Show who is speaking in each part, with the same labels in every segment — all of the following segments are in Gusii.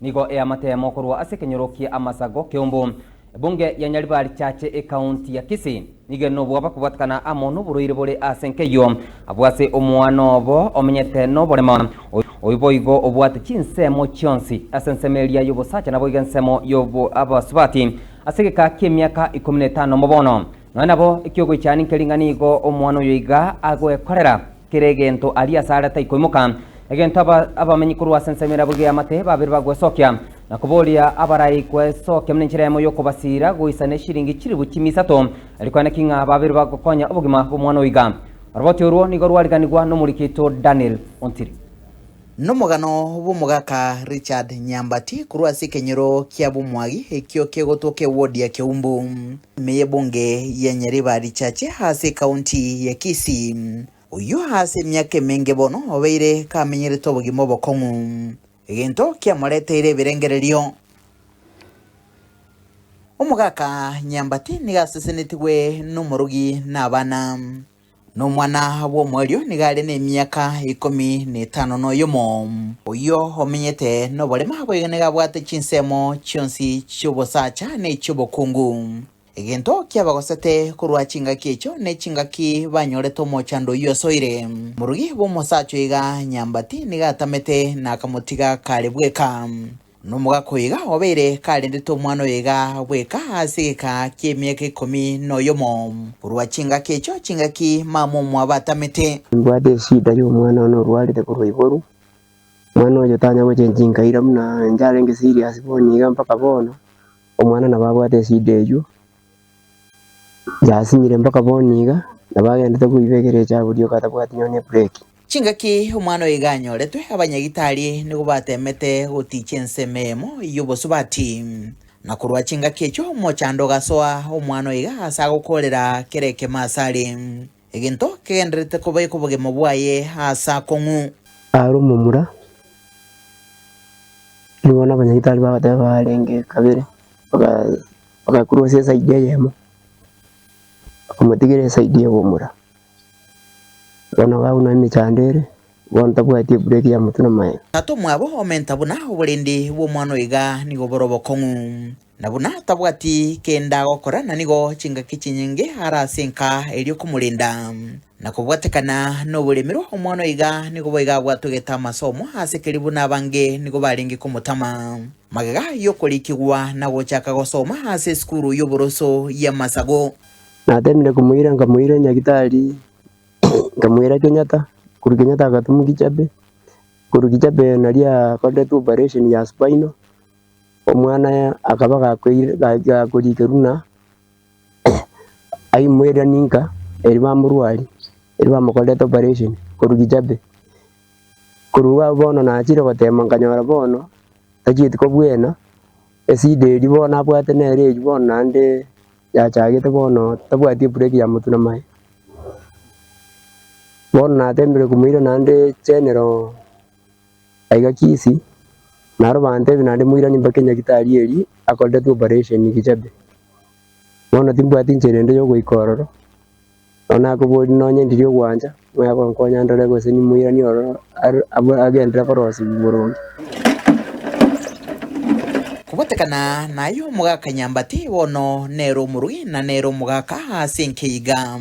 Speaker 1: Nigo eamatemo korwa ase ekenyoro kia amasago keumbu. Ebunge ya Nyaribari Church ecounty ya Kisii nigo enobo bakobwatekana amo noborwaire bore ase nkeyio abwo ase omwana obo omenyete noboremo oyio boigo obwate chinsemo chionsi ase ensemo eria yobosacha naboigo ensemo y'abasubati ase egeka kiemiaka ikomi netano mobono nonya nabo ekiogoichani nkeri ng'a nigo omwana oyo iga agoekorera Kera egento aria asare taikoimoka, egento aba abamenyi korwa ase ensemo erabo igeamate, babere bagwesokia, na koboria abarai kwesokia buna enchera yamo y'okobasiira, goisa neshiringi chilifu chimia isato, erio kwaye naki ng'a babere bagokonya obogima bw'omwana oiga. Oroboti orwo nigo rwariganigwa n'omoriki oito Daniel Ontiri. Nomogano
Speaker 2: bw'omogaka Richard Nyambati korwa ase ekenyoro kia bomwagi ekio kegotwoka ewodi ya Keumbu, ime y'ebunge ya Nyariba richache ase ekaunti ya Kisii. Oyio ase emiaka emenge bono obeire kamenyerete obogima obokong'u, egento kiamoreteire ebirengererio. Omogaka Nyambati nigo asesenetigwe nomorogi na abana. Nomwana bw'omoerio nigo are nemiaka ikomi netano noyomo. Oyio omenyete noborema boigo nigo abwate chinsemo chionsi chi'obosacha na echi'obokungu. Egento kiabagosete korwa chingaki echio ne chingaki banyorete omochando oyio asoire. Morugi bw'omosacha oiga nyambati nigo atamete na akamotiga kare bweka. Nomogaka oiga obeire karendete omwana oyo iga bweka ase egekaa ki'emiaka ikomi noyomo, korwa chingaki echio chingaki mama omwabo atamete. Nimbwate eshida
Speaker 3: y'omwana one orwarete korwa iboru. Omwana oyio tanya gochencha chinkaira buna inche arenge serious bono iga mpaka bono, omwana nabo abwate eshida eyio. Yasinyire mpaka boni iga, nabo agendete koiba egere echa aburie okatabwati nonye ebureki. Chingaki omwana
Speaker 2: oyo iga anyoretwe, abanyagitari nigo bateemete gotiichia ensemo eyemo y'obosubati. Na korwa chingaki echio omochando ogasoa omwana oyo iga ase agokoorera kera ekemo aase are. Egento kegendererete koba ekobogemo bwaye aase akong'u. Aro omomura,
Speaker 3: nigo bono abanyagitari bagoteeba arenge kabere, baga. Agakurwa ase esaidi eyemo, bakamotigera esaidi y'obomura. Bono gaunwa emechando ere, bono tabwati ebureki ya motwe n'amaene. Tato mwabo omenta
Speaker 2: buna oborende bw'omwana oyo iga nigo bore obokong'u, na buna tabwati kende agokora na nigo chingaki chinyinge are ase enka eria okomorenda, na kobwatekana noboremerwa omwana oyo iga nigo boiga abwatwe getama ase omo ase keria buna abange nigo barenge komotama. Magega y'okorikigwa na gochaka gosoma ase esukuru y'oboroso y'amasago. Nateemire
Speaker 3: komoira, nkamoira Nyagitari, nkamwera Kenyatta, korwa Kenyatta agatumwa Kijape, korwa Kijape nario akoretwe operation ya spinal, omwana akaba gakoire gakorikerwa ng'a aimoire ninka, erio bamorwaria, erio bamokorera operation korwa Kijape. Korwa bono nachire goteema nkanyora bono tachieti kobwena, esida eria bono nabwate nere eyio bono naende yachagete bono tabwati ebureki ya motwe na maye. Bono nateemire komoira naende chenero aiga Kisii, naro bantebia naende moiranie mpaka enyagitari eria akoretwe operation Kichebe. Bono timbwati nchera ende yogoika ororo, Nabo nakoboria, Nonye ndiri ogwancha, mwaya gonkonya ndore gose nimoiranie ororo are agenderere korosibwa boronge?
Speaker 2: Kobatekana naye omogaka nyambate, bono nere omorui, na nere omogaka ase enke iga.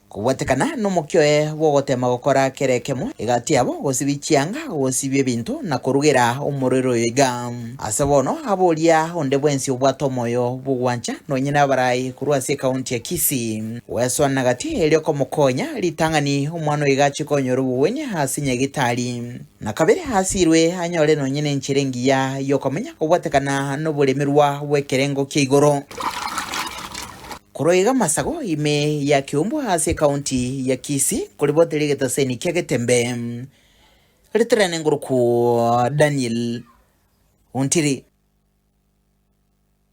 Speaker 2: Kobatekana nomokio oye bw'ogotema gokora kera ekemo, egati yabo, gosibia chianga, gosibia ebinto, na korugera omorero oyo iga. Ase bono abe oria onde bwensi obwate omoyo bw'ogwancha, nonye nabarai korwa ase ekaunti ya Kisii. Gwesoa na gati erio komokonya, ritang'ani omwana oiga ache konyora obogwenia ase nyagitari, na kabere asirwe anyore nonye nenchera engiya yokomenya kobwatekana noboremerwa bw'ekerengo kia igoro. Korwa iga amasago ime ya Kiumbwa ase ekaunti ya Kisii nkoribwate rigetoseni kia Getembe. Rito riane ngorokwo Daniel Ontiri.